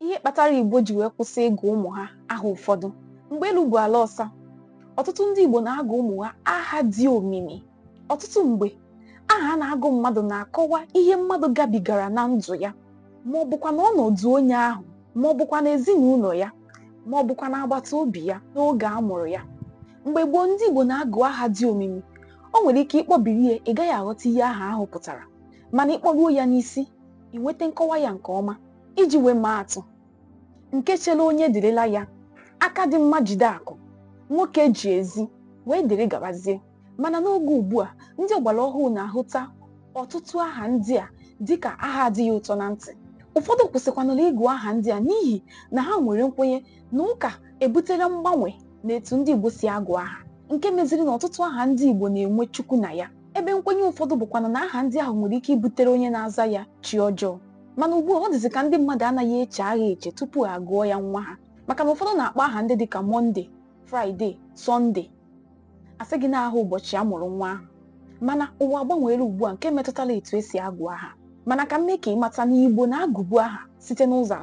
ihe kpatara Igbo ji wee kwụsị ịgụ ụmụ ha aha ụfọdụ mgbe elu bụ ala ọsa ọtụtụ ndị Igbo na-agụ ụmụ ha aha dị omimi ọtụtụ mgbe aha a na-agụ mmadụ na-akọwa ihe mmadụ gabigara na ndụ ya ma ọ bụkwa na ọnọdụ onye ahụ ma ọ bụkwa na ezinụlọ ya ma ọ bụkwa na agbata obi ya n'oge a mụrụ ya mgbe gboo ndị Igbo na-agụ aha dị omimi o nwere ike ị kpọbiri ya ị gaghị aghọta ihe aha ahụ pụtara mana ị kpọruo ya n'isi ị nweta nkọwa ya nke ọma iji wee maa atụ nke chere onye dịrịla ya aka dị mma jide akụ nwoke ji ezi wee dịrị gabazie mana n'oge ugbu a ndị ọgbara ọhụụ na-ahụta ọtụtụ aha ndị a dịka aha adịghị ụtọ na ntị ụfọdụ kwụsịkwanụrụ ịgụ aha ndị a n'ihi na ha nwere nkwenye na ụka ebutela mgbanwe n'etu ndị Igbo si agụ aha nke meziri na ọtụtụ aha ndị Igbo na-enwe Chukwu na ya ebe nkwenye ụfọdụ bụkwanụ na aha ndị ahụ nwere ike ibutere onye na-aza ya chi ọjọọ mana ugbu a ọ dịzị ka ndị mmadụ anaghị eche aha eche tupu a gụọ ya nwa ha maka na ụfọdụ na-akpọ aha ndị dịka mọnde fraịde sọnde a sị gị na aha ụbọchị a mụrụ nwa ahụ mana ụwa agbanweela ugbu a nke metụtara etu e si agụ aha mana ka m mee ka ị mata na igbo na-agụbu aha site n'ụzọ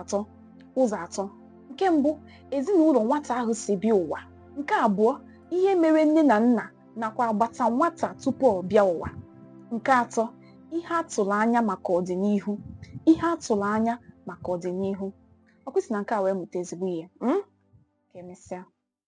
atọ nke mbụ ezinụlọ nwata ahụ si bịa ụwa nke abụọ ihe mere nne na nna nakwa agbata nwata tupu ọ bịa ụwa nke atọ ihe a tụrụ anya maka ọdịnihu ihe a tụrụ anya maka ọdịnihu ọ kwa i si na nke a wee mụta ezigbo ihe mm? ka emesịa